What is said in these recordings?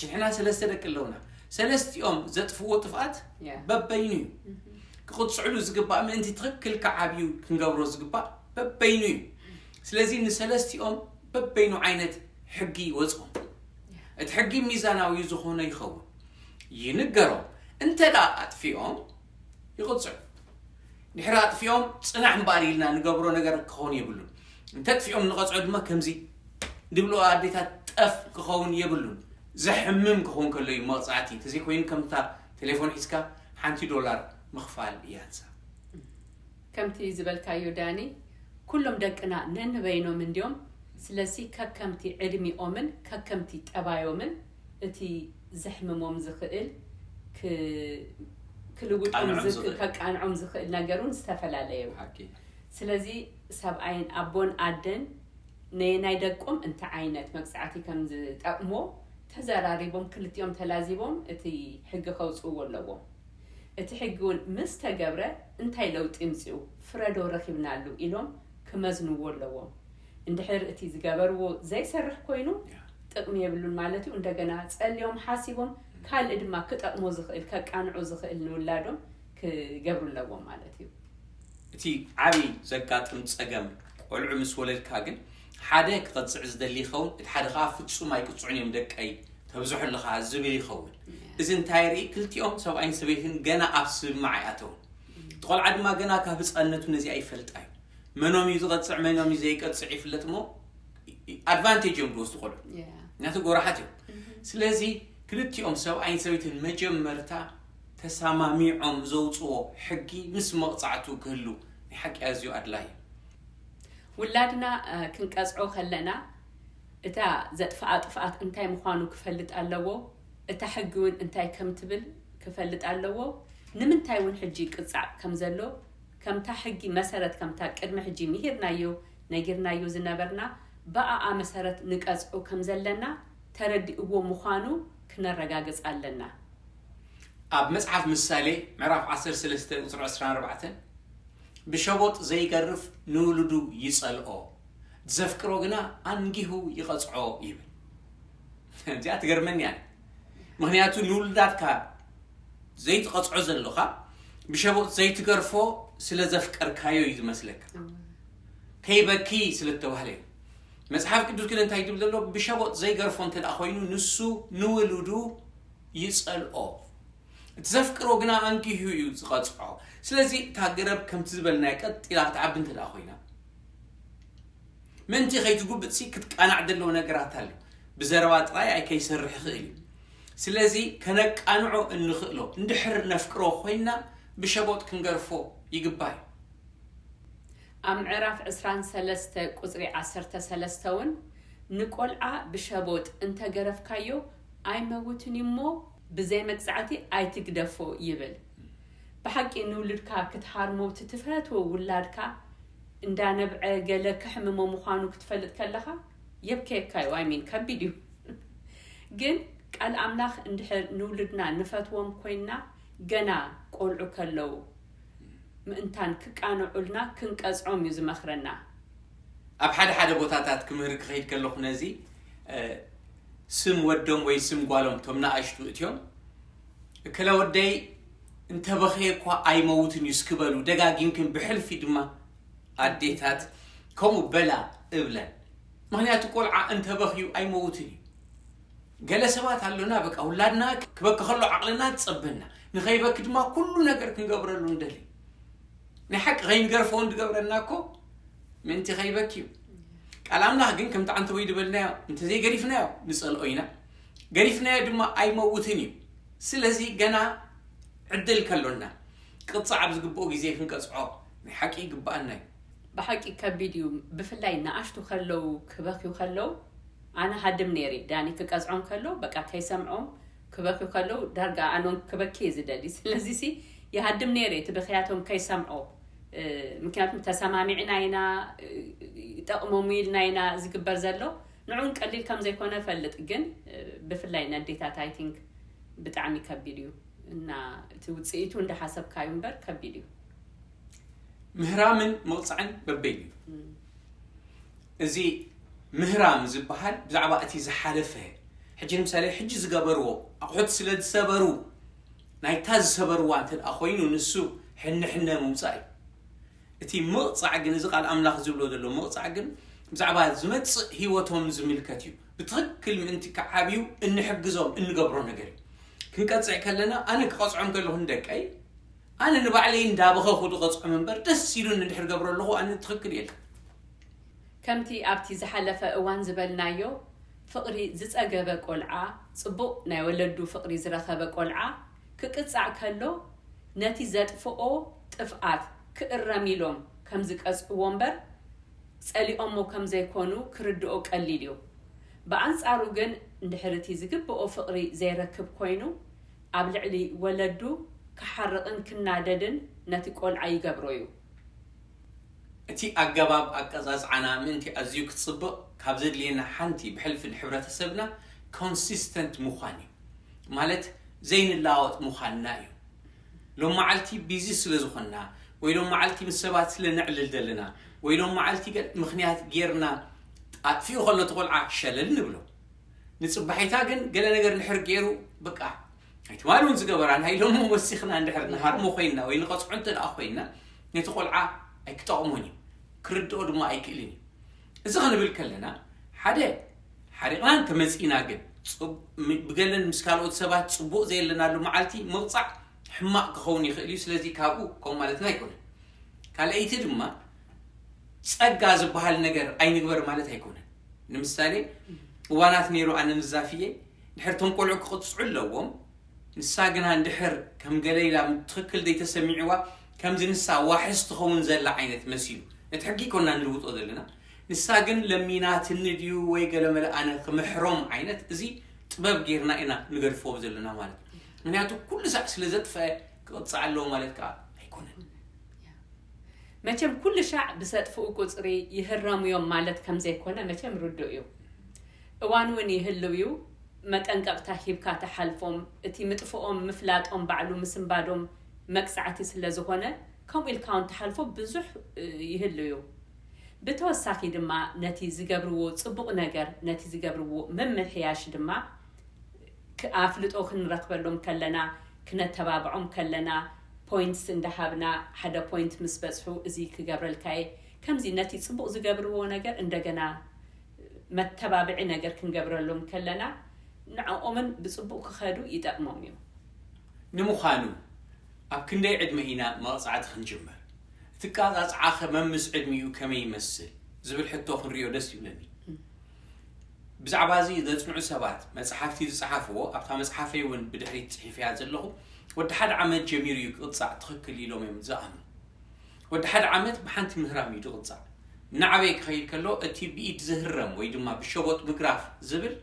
ንሕና ሰለስተ ደቂ ኣለውና ሰለስቲኦም ዘጥፍዎ ጥፍኣት በበይኑ እዩ ክቕፅዕሉ ዝግባእ ምእንቲ ትኽክል ክዓብዩ ክንገብሮ ዝግባእ በበይኑ እዩ ስለዚ ንሰለስቲኦም በበይኑ ዓይነት ሕጊ ይወፅኦም እቲ ሕጊ ሚዛናዊ ዝኾነ ይኸውን ይንገሮም እንተ ኣጥፊኦም ይቕጽዑ። ድሕሪ ኣጥፊኦም ጽናሕ እምበኣር ኢልና ንገብሮ ነገር ክኸውን የብሉን። እንተጥፊኦም ንቐጽዖ ድማ ከምዚ ድብልኦ ኣዴታት ጠፍ ክኸውን የብሉን። ዘሕምም ክኸውን ከሎ እዩ መቕጻዕቲ፣ ተዘይኮይኑ ከምታ ቴሌፎን ሒዝካ ሓንቲ ዶላር ምኽፋል እያንሳ። ከምቲ ዝበልካዮ ዳኒ ኩሎም ደቅና ነንበይኖም እንድዮም ስለሲ ከከምቲ ዕድሚኦምን ከከምቲ ጠባዮምን እቲ ዘሕምሞም ዝኽእል ክልውጦም ዝክ ከቃንዖም ዝኽእል ነገር ውን ዝተፈላለየ ዩ። ብሓቂ። ስለዚ ሰብኣይን ኣቦን ኣደን ነየናይ ደቆም እንታይ ዓይነት መቅጻዕቲ ከም ዝጠቅሞ ተዘራሪቦም ክልቲኦም ተላዚቦም እቲ ሕጊ ከውጽእዎ ኣለዎም። እቲ ሕጊ ውን ምስ ተገብረ እንታይ ለውጢ ምጽኡ ፍረዶ ረኺብናሉ ኢሎም ክመዝንዎ ኣለዎም። እንድሕር እቲ ዝገበርዎ ዘይሰርሕ ኮይኑ ጥቅሚ የብሉን ማለት እዩ እንደገና ጸልዮም ሓሲቦም ካልእ ድማ ክጠቅሞ ዝክእል ከቃንዖ ዝክእል ንውላዶም ክገብሩ ኣለዎም ማለት እዩ። እቲ ዓቢ ዘጋጥም ጸገም ቆልዑ ምስ ወለድካ ግን ሓደ ክቅጽዕ ዝደሊ ይከውን እቲ ሓደ ከኣ ፍጹም ኣይቅጽዑን እዮም ደቀይ ተብዝሖ ኣለካ ዝብል ይከውን እዚ እንታይ የርኢ ክልቲኦም ሰብኣይን ሰበይትን ገና ኣብ ስምምዕ ኣይኣተውን እቲ ቆልዓ ድማ ገና ካብ ህጻንነቱ ነዚኣ ይፈልጣ እዩ መኖም እዩ ዝቐጽዕ መኖም እዩ ዘይቀጽዕ ይፍለጥ እሞ ኣድቫንቴጅ እዮም ዝወስዱ ቆልዑ ምክንያቱ ጎራሓት እዮም ስለዚ ክልቲኦም ሰብኣይን ሰበይትን መጀመርታ ተሰማሚዖም ዘውፅዎ ሕጊ ምስ መቕፃዕቱ ክህሉ ናይ ሓቂ ኣዝዩ ኣድላይ እዩ ውላድና ክንቀፅዖ ከለና እታ ዘጥፍኣ ጥፍኣት እንታይ ምዃኑ ክፈልጥ ኣለዎ እታ ሕጊ እውን እንታይ ከም ትብል ክፈልጥ ኣለዎ ንምንታይ እውን ሕጂ ቅፃዕ ከም ዘሎ ከምታ ሕጊ መሰረት ከምታ ቅድሚ ሕጂ ምሂርናዮ ነጊርናዮ ዝነበርና ብኣኣ መሰረት ንቀጽዑ ከም ዘለና ተረዲእዎ ምዃኑ ክነረጋግጽ ኣለና። ኣብ መጽሓፍ ምሳሌ ምዕራፍ ዓሰርተ ሰለስተ ቁጽሪ ዕስራን ኣርባዕተን ብሸቦጥ ዘይገርፍ ንውሉዱ ይጸልኦ፣ ዘፍቅሮ ግና ኣንጊሁ ይቐጽዖ ይብል። እዚኣ ትገርመኒ ኣነ። ምኽንያቱ ንውሉዳትካ ዘይትቐጽዖ ዘሎኻ ብሸቦጥ ዘይትገርፎ ስለ ዘፍቀርካዮ እዩ ዝመስለካ ከይበኪ ስለ እተባህለ እዩ መጽሓፍ ቅዱስ ግን እንታይ ትብል ዘሎ ብሸቦጥ ዘይገርፎ እንተ ኮይኑ ንሱ ንውሉዱ ይጸልኦ እቲ ዘፍቅሮ ግና ኣንጊሁ እዩ ዝቐጽዖ ስለዚ እታ ገረብ ከምቲ ዝበልናዮ ቀጢላ ክትዓቢ እንተ ኮይና ምእንቲ ከይትጉብጥሲ ክትቃናዕ ደለዎ ነገራት ኣሎ። ብዘረባ ጥራይ ኣይ ከይሰርሕ ይኽእል እዩ። ስለዚ ከነቃንዖ እንኽእሎ እንድሕር ነፍቅሮ ኮይንና ብሸቦጥ ክንገርፎ ይግባእ እዩ። ኣብ ምዕራፍ ዕስራን ሰለስተ ቁጽሪ ዓሰርተ ሰለስተ ውን ንቆልዓ ብሸቦጥ እንተ ገረፍካዮ ኣይ መውትን እዩ እሞ ብዘይ መቅጻዕቲ ኣይ ትግደፎ ይብል። ብሓቂ ንውሉድካ ክትሃርሞ እቲ ትፈትዎ ውላድካ እንዳ ነብዐ ገለ ከሕምሞ ምዃኑ ክትፈልጥ ከለኻ የብከየካ እዩ ኣይ ሚን ከቢድ እዩ ግን ቃል ኣምላኽ እንድሕር ንውሉድና ንፈትዎም ኮይንና ገና ቆልዑ ከለዉ ምእንታን ክቃንዑልና ክንቀጽዖም እዩ ዝመኽረና። ኣብ ሓደ ሓደ ቦታታት ክምህር ክኸይድ ከለኹ ነዚ ስም ወዶም ወይ ስም ጓሎም እቶም ንኣሽቱ እትዮም እከለ ወደይ እንተ በኽየ እኳ ኣይመውትን እዩ እስኪ በሉ ደጋጊምክን ብሕልፊ ድማ ኣዴታት ከምኡ በላ እብለን ምክንያቱ ቆልዓ እንተ በኽዩ ኣይመውትን እዩ ገለ ሰባት ኣሎና በቃ ውላድና ክበኪ ከሎ ዓቕልና ትጸበና ንኸይበኪ ድማ ኩሉ ነገር ክንገብረሉ ንደሊ ናይ ሓቂ ከይንገርፎ እንድገብረና እኮ ምእንቲ ከይበኪ እዩ ቃል ኣምላኽ ግን ከምቲ ዓንተበይ ዝበልናዮ እንተዘይገሪፍናዮ ንጸልኦ ኢና ገሪፍናዮ ድማ ኣይመውትን እዩ ስለዚ ገና ዕድል ከሎና ክቕጻዕ ኣብዝግብኦ ግዜ ክንቀጽዖ ናይ ሓቂ ይግብኣና እዩ። ብሓቂ ከቢድ እዩ ብፍላይ ንኣሽቱ ከለው ክበክዩ ከለው ኣነ ሃድም ነይረ ዳኒ ክቀዝዖም ከሎ በቃ ከይሰምዖም ክበክዩ ከለው ዳርጋ ኣነውን ክበኪ እየ ዝደሊ ስለዚሲ ይሃድም ነይረ እቲ ብክያቶም ከይሰምዖ ምክንያቱም ተሰማሚዕና ኢና ይጠቕሞም ኢልና ኢና ዝግበር ዘሎ ንዑን ቀሊል ከም ዘይኮነ እፈልጥ ግን ብፍላይ ነዴታት ኣይ ቲንክ ብጣዕሚ ከቢድ እዩ እና እቲ ውጽኢቱ እንዳ ሓሰብካዩ እምበር ከቢድ እዩ። ምህራምን ምቕጻዕን በበይኑ እዩ። እዚ ምህራም ዝበሃል ብዛዕባ እቲ ዝሓለፈ ሕጂ ንምሳሌ ሕጂ ዝገበርዎ ኣቑሑት ስለ ዝሰበሩ ናይታ ዝሰበርዋ እንተድኣ ኮይኑ ንሱ ሕነ ሕነ ምውጻእ እዩ። እቲ ምቕጻዕ ግን፣ እዚ ቃል ኣምላኽ ዝብሎ ዘሎ ምቕጻዕ ግን፣ ብዛዕባ ዝመጽእ ህይወቶም ዝምልከት እዩ። ብትኽክል ምእንቲ ክዓብዩ እንሕግዞም እንገብሮ ነገር እዩ። ክንቀጽዕ ከለና፣ ኣነ ክቐጽዖም ከለኹ ንደቀይ፣ ኣነ ንባዕለይ እንዳበኸኹ ድቐጽዖም እምበር፣ ደስ ኢሉኒ እንድሕር ገብሮ ኣለኹ፣ ኣነ ትኽክል እየ ኢልካ። ከምቲ ኣብቲ ዝሓለፈ እዋን ዝበልናዮ፣ ፍቕሪ ዝጸገበ ቆልዓ፣ ጽቡቕ ናይ ወለዱ ፍቕሪ ዝረኸበ ቆልዓ፣ ክቅጻዕ ከሎ ነቲ ዘጥፍኦ ጥፍኣት ክእረም ኢሎም ከም ዝቀጽዕዎ እምበር ጸሊኦሞ ከም ዘይኮኑ ክርድኦ ቀሊል እዩ። ብኣንጻሩ ግን እንድሕር እቲ ዝግብኦ ፍቅሪ ዘይረክብ ኮይኑ ኣብ ልዕሊ ወለዱ ክሓርቅን ክናደድን ነቲ ቆልዓ ይገብሮ እዩ። እቲ ኣገባብ ኣቀጻጽዓና ምእንቲ ኣዝዩ ክጽብቕ ካብ ዘድልየና ሓንቲ ብሕልፊ ንሕብረተሰብና ኮንሲስተንት ምዃን እዩ። ማለት ዘይንለዋወጥ ምዃንና እዩ። ሎምመዓልቲ ቢዚ ስለ ዝኾንና ወይ ሎምመዓልቲ ምስ ሰባት ስለ ነዕልል ዘለና ወይ ሎምመዓልቲ ገለ ምኽንያት ጌርና ኣጥፊኡ ከሎ እቲ ቆልዓ ሸለል ንብሎ። ንጽባሒታ ግን ገለ ነገር እንድሕር ጌሩ በቃ ናይ ትማሊ እውን ዝገበራ ናይ ሎሚ ወሲኽና እንድሕር ንሃርሞ ኮይንና ወይ ንቐፅዖ እንተ ደኣ ኮይንና ነቲ ቆልዓ ኣይክጠቕሞን እዩ ክርድኦ ድማ ኣይክእልን እዩ እዚ ክንብል ከለና ሓደ ሓሪቕና እንተመፂእና ግን ብገለን ምስ ካልኦት ሰባት ፅቡቕ ዘየለናሉ መዓልቲ ምቕፃዕ ሕማቕ ክኸውን ይኽእል እዩ ስለዚ ካብኡ ከምኡ ማለትና ኣይኮነን ካልኣይቲ ድማ ጸጋ ዝበሃል ነገር ኣይንግበር ማለት ኣይኮነን ንምሳሌ እዋናት ነይሩ ኣነ ንዛፍየ ድሕር እቶም ቆልዑ ክቕጽዑ ኣለዎም፣ ንሳ ግና እንድሕር ከም ገለ ኢላ ትኽክል ዘይተሰሚዕዋ ከምዚ ንሳ ዋሕስ ትኸውን ዘላ ዓይነት መሲሉ። ነቲ ሕጊ ኣይኮንና ንልውጦ ዘለና፣ ንሳ ግን ለሚናትኒ ድዩ ወይ ገለመለ ኣነ ክምሕሮም ዓይነት እዚ ጥበብ ጌርና ኢና ንገድፎ ዘለና ማለት እዩ። ምኽንያቱ ኩሉ ሳዕ ስለ ዘጥፈኣ ክቕጻዕ ኣለዎ ማለት ከኣ ኣይኮነን። መቸም ኩሉ ሻዕ ብሰጥፍኡ ቁጽሪ ይህረሙ'ዮም ማለት ከም ዘይኮነ መቸም ርዱእ እዩ። እዋን ውን ይህልው ዩ መጠንቀቅታ ሂብካ ትሓልፎም እቲ ምጥፍኦም ምፍላጦም ባዕሉ ምስንባዶም መቅጻዕቲ ስለ ዝኮነ ከምኡ ኢልካ ውን ትሓልፎ ብዙሕ ይህልው ዩ ብተወሳኪ ድማ ነቲ ዝገብርዎ ጽቡቅ ነገር ነቲ ዝገብርዎ ምምሕያሽ ድማ ኣፍልጦ ክንረክበሎም ከለና ክነተባብዖም ከለና ፖይንትስ እንዳሃብና ሓደ ፖይንት ምስ በጽሑ እዚ ክገብረልካ እየ ከምዚ ነቲ ጽቡቅ ዝገብርዎ ነገር እንደገና መተባብዒ ነገር ክንገብረሎም ከለና ንዕኦምን ብጽቡቕ ክኸዱ ይጠቕሞም እዩ። ንምዃኑ ኣብ ክንደይ ዕድመ ኢና መቕጻዕቲ ክንጅምር? እቲ ኣቀጻጽዓኸ መምስ ዕድሚኡ ከመይ ይመስል? ዝብል ሕቶ ክንሪኦ ደስ ይብለኒ። ብዛዕባ እዚ ዘጽንዑ ሰባት መጽሓፍቲ ዝጸሓፍዎ ኣብታ መጽሓፈይ እውን ብድሕሪት ጽሒፈያ ዘለኹ ወዲ ሓደ ዓመት ጀሚሩ እዩ ክቕጻዕ ትኽክል ኢሎም እዮም ዝኣምኑ። ወዲ ሓደ ዓመት ብሓንቲ ምህራም እዩ ዝቕጻዕ። እናዓበየ ክኸይድ ከሎ እቲ ብኢድ ዝህረም ወይ ድማ ብሸቦጥ ምግራፍ ዝብል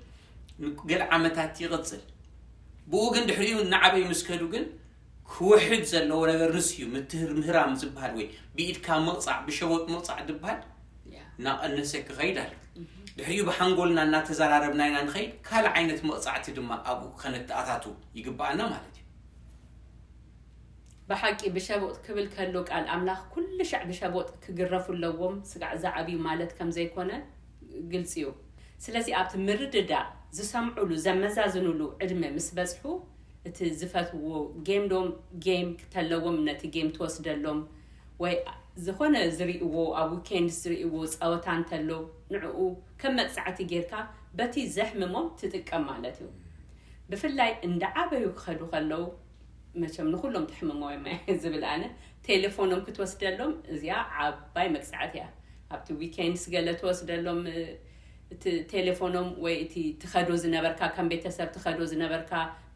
ንገለ ዓመታት ይቕጽል። ብኡ ግን ድሕሪኡ እናዓበዩ ምስ ከዱ ግን ክውሕድ ዘለዎ ነገር ንሱ እዩ። ምትህር ምህራም ዝበሃል ወይ ብኢድካ ምቕጻዕ ብሸቦጥ ምቕጻዕ ዝበሃል እናቐነሰ ክኸይድ ኣሎ። ድሕሪኡ ብሓንጎልና እናተዘራረብና ኢና ንኸይድ። ካልእ ዓይነት መቕጻዕቲ ድማ ኣብኡ ከነተኣታቱ ይግበኣና ማለት እዩ። ብሓቂ ብሸቦጥ ክብል ከሎ ቃል ኣምላኽ ኩልሻዕ ብሸቦጥ ክግረፉ ኣለዎም ስጋዕ ዝዓብዩ ማለት ከም ዘይኮነ ግልጺ እዩ ስለዚ ኣብቲ ምርድዳእ ዝሰምዑሉ ዘመዛዝኑሉ ዕድመ ምስ በጽሑ እቲ ዝፈትውዎ ጌም ዶ ጌም ክተለዎም ነቲ ጌም ትወስደሎም ወይ ዝኾነ ዝሪእዎ ኣብ ዊኬንድስ ዝሪእዎ ጸወታ እንተሎ ንዕኡ ከም መቅጻዕቲ ጌርካ በቲ ዘሕምሞም ትጥቀም ማለት እዩ ብፍላይ እንዳዓበዩ ክኸዱ ከለው መቸም ንኹሎም ተሕምሞም እየ ዝብል ኣነ ቴሌፎኖም ክትወስደሎም እዚኣ ዓባይ መቅፃዕት እያ ኣብቲ ዊኬንድስ ገለ ትወስደሎም እቲ ቴሌፎኖም ወይ እቲ ትኸዶ ዝነበርካ ከም ቤተሰብ ትኸዶ ዝነበርካ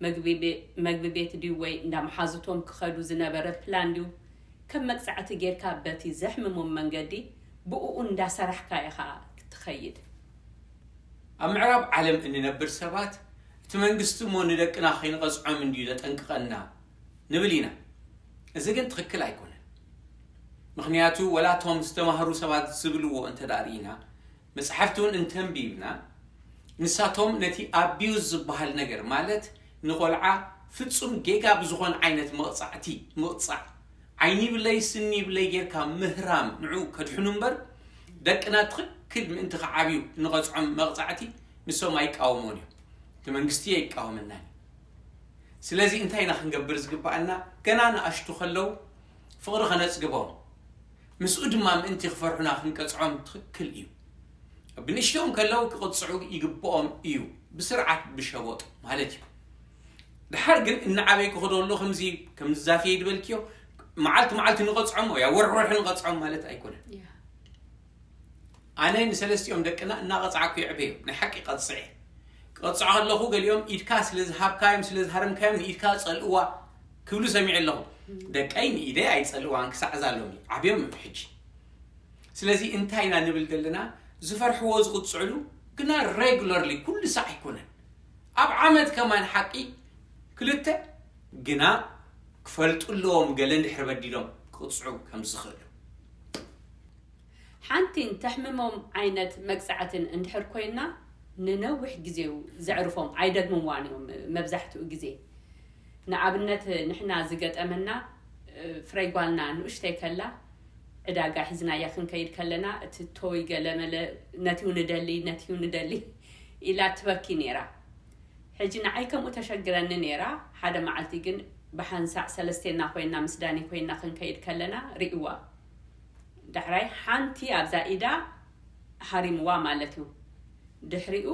መግቢ ቤት ድዩ ወይ እንዳ መሓዙቶም ክኸዱ ዝነበረ ፕላን ድዩ ከም መቅፃዕቲ ጌርካ በቲ ዘሕምሞም መንገዲ ብእኡ እንዳሰራሕካ ኢኻ ክትኸይድ ኣብ ምዕራብ ዓለም እንነብር ሰባት እቲ መንግስቲ እሞ ንደቅና ከይንቐጽዖም እንድዩ ዘጠንቅቐና ንብል ኢና። እዚ ግን ትኽክል ኣይኮነን። ምኽንያቱ ወላ እቶም ዝተማህሩ ሰባት ዝብልዎ እንተ ርኢና፣ መጻሕፍቲ እውን እንተንቢብና፣ ንሳቶም ነቲ ኣቢዩዝ ዝበሃል ነገር ማለት ንቆልዓ ፍጹም ጌጋ ብዝኾነ ዓይነት መቕጻዕቲ ምቕጻዕ፣ ዓይኒ ይብለይ ስኒ ይብለይ ጌርካ ምህራም ንዕኡ ከድሕኑ እምበር ደቅና ትኽክል ምእንቲ ክዓብዩ እንቐጽዖም መቕጻዕቲ ንሶም ኣይቃወሙን እዮም እቲ መንግስቲ ኣይቃወመናን እዩ ስለዚ እንታይ ኢና ክንገብር ዝግባኣና ገና ንኣሽቱ ከለው ፍቕሪ ከነጽግቦም ምስኡ ድማ ምእንቲ ክፈርሑና ክንቀጽዖም ትኽክል እዩ ብንእሽተኦም ከለው ክቕጽዑ ይግብኦም እዩ ብስርዓት ብሸቦጥ ማለት እዩ ድሓር ግን እናዓበይ ክኸዶ ኣሎ ከምዚ ከምዚ ዛፍየ ድበልክዮ መዓልቲ መዓልቲ ንቐጽዖም ወያ ወርሒ ወርሒ ንቐጽዖም ማለት ኣይኮነን ኣነ ንሰለስቲኦም ደቅና እናቐጻዕኩ የዕበዮም። ናይ ሓቂ ቀጽዔ። ክቐጽዖ ከለኹ ገሊኦም ኢድካ ስለ ዝሃብካዮም፣ ስለ ዝሃረምካዮም ንኢድካ ጸልእዋ ክብሉ ሰሚዐ ኣለኹ። ደቀይ ንኢደይ ኣይጸልእዋን ክሳዕ እዛ ሎሚ። ዓብዮም እዮም ሕጂ። ስለዚ እንታይ ኢና ንብል ዘለና፣ ዝፈርሕዎ ዝቕጽዕሉ ግና regularly ኩሉ ሳዕ ኣይኮነን። ኣብ ዓመት ከማን ሓቂ ክልተ ግና ክፈልጡ ኣለዎም ገለ እንድሕሪ በዲሎም ክቕጽዑ ከም ዝኽእሉ። ሓንቲን ተሕምሞም ዓይነት መቅጻዕትን እንድሕር ኮይና ንነዊሕ ግዜ'ዩ ዘዕርፎም ኣይደግምዋን እዮም መብዛሕትኡ ግዜ ንኣብነት ንሕና ዝገጠመና ፍረይ ጓልና ንኡሽተይ ከላ ዕዳጋ ሒዝናያ ክንከይድ ከለና እቲ ቶይ ገለመለ ነትዩ ንደሊ ነትዩ ንደሊ ኢላ ትበኪ ኔራ ሕጂ ንዓይ ከምኡ ተሸግረኒ ኔራ ሓደ መዓልቲ ግን ብሓንሳዕ ሰለስቴና ኮይና ምስ ዳኒ ኮይና ክንከይድ ከለና ሪእዋ ዳሕራይ ሓንቲ ኣብዛ ኢዳ ሃሪምዋ ማለት እዩ ድሕሪኡ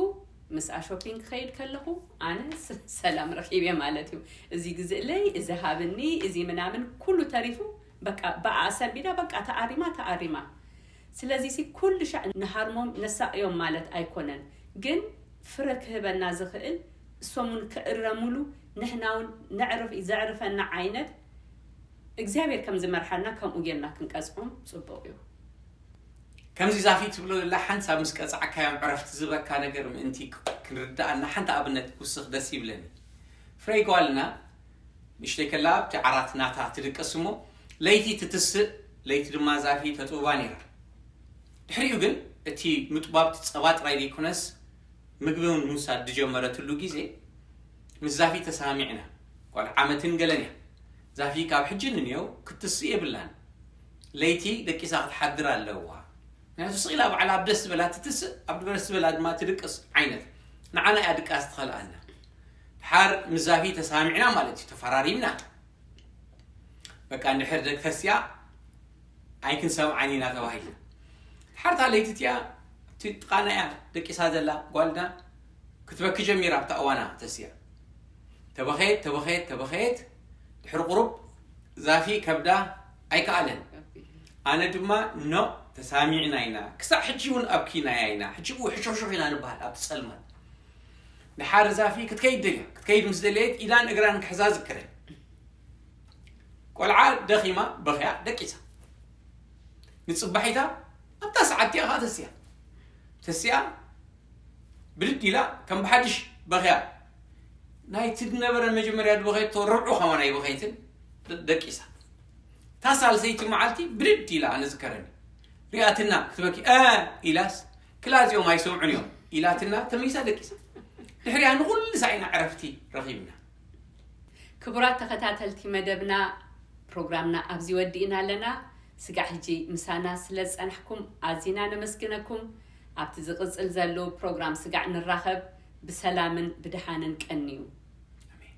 ምስኣ ሾፒንግ ክኸይድ ከለኹ ኣነ ሰላም ረኺበ ማለት እዩ እዚ ግዝእለይ እዚ ሃብኒ እዚ ምናምን ኩሉ ተሪፉ በቃ ብኣ ኣሰንቢዳ በቃ ተኣሪማ ተኣሪማ ስለዚ ሲ ኩሉ ሻዕ ንሃርሞም ነሳቕዮም ማለት ኣይኮነን ግን ፍረ ክህበና ዝኽእል እሶም ውን ክእረምሉ ንሕና ውን ነዕርፍ ዘዕርፈና ዓይነት እግዚኣብሔር ከም ዝመርሓና ከምኡ ጌርና ክንቀጽዖም ጽቡቅ እዩ። ከምዚ ዛፊ ትብሎ ዘላ ሓንሳብ ምስ ቀጻዕካዮም ዕረፍቲ ዝህበካ ነገር ምእንቲ ክንርድኣና ሓንቲ ኣብነት ክውስኽ ደስ ይብለኒ። ፍረይ ጓልና ንእሽተይ ከላ ኣብቲ ዓራት ናታ ትድቅስ እሞ ለይቲ ትትስእ ለይቲ ድማ ዛፊ ተጥብባ ነይራ። ድሕሪኡ ግን እቲ ምጥባብ ጸባ ጥራይ ዘይኮነስ ምግቢ እውን ምውሳድ ዝጀመረትሉ ግዜ ምስ ዛፊ ተሳማሚዕና ጓል ዓመትን ገለን እያ ዛፊ ካብ ሕጂ ንንየው ክትስእ የብላን ለይቲ ደቂሳ ክትሓድር ኣለዋ ምክንያቱ ስቅ ኢላ ባዕላ ኣብ ደስ ዝበላ ትትስእ ኣብ ደስ ዝበላ ድማ ትድቅስ ዓይነት ንዓና እያ ድቃስ ትኸልኣና ድሓር ምስ ዛፊ ተሳሚዕና ማለት እዩ ተፈራሪምና በቃ እንድሕር ደቂ ተስያ ኣይክንሰምዓን ኢና ተባሂልና ሓርታ ለይቲ እቲኣ እቲ ጥቃና እያ ደቂሳ ዘላ ጓልና ክትበኪ ጀሚራ ኣብታ እዋና ተሲኣ ተበኸየት ተበኸየት ተበኸየት ድሕሪ ቁሩብ ዛፊ ከብዳ ኣይከኣለን ኣነ ድማ ኖእ ተሳሚዕና ኢና ክሳዕ ሕጂ እውን ኣብኪናያ ኢና ሕጂ እው ሕሾኽሾኽ ኢና ንበሃል ኣብቲ ጸልማት ድሓር ዛፊ ክትከይድ ደልያ ክትከይድ ምስ ደለየት ኢዳን እግራን ክሕዛ ዝክረ ቆልዓ ደኺማ በኽያ ደቂሳ ንጽባሒታ ኣብታ ሰዓት እቲኣ ከዓ ተስያ ተስያ ብድድ ኢላ ከም ብሓድሽ በኽያ። ናይቲ ዝነበረ መጀመርያ ዝበኸየቶ ርብዑ ከማን ኣይበኸየትን ደቂሳ። እታ ሳልሰይቲ መዓልቲ ብድድ ኢላ ኣነ ዝከረኒ ሪኣትና ክትበኪ እ ኢላስ ክላ እዚኦም ኣይሰምዑን እዮም ኢላትና ተመይሳ ደቂሳ። ድሕሪያ ንኹሉ ሳኢና ዕረፍቲ ረኺብና። ክቡራት ተኸታተልቲ መደብና ፕሮግራምና ኣብዚ ወዲእና ኣለና። ስጋዕ ሕጂ ምሳና ስለ ዝጸናሕኩም ኣዚና ነመስግነኩም። ኣብቲ ዝቅጽል ዘሉ ፕሮግራም ስጋዕ ንራኸብ ብሰላምን ብድሓንን ቀንዩ። ኣሜን።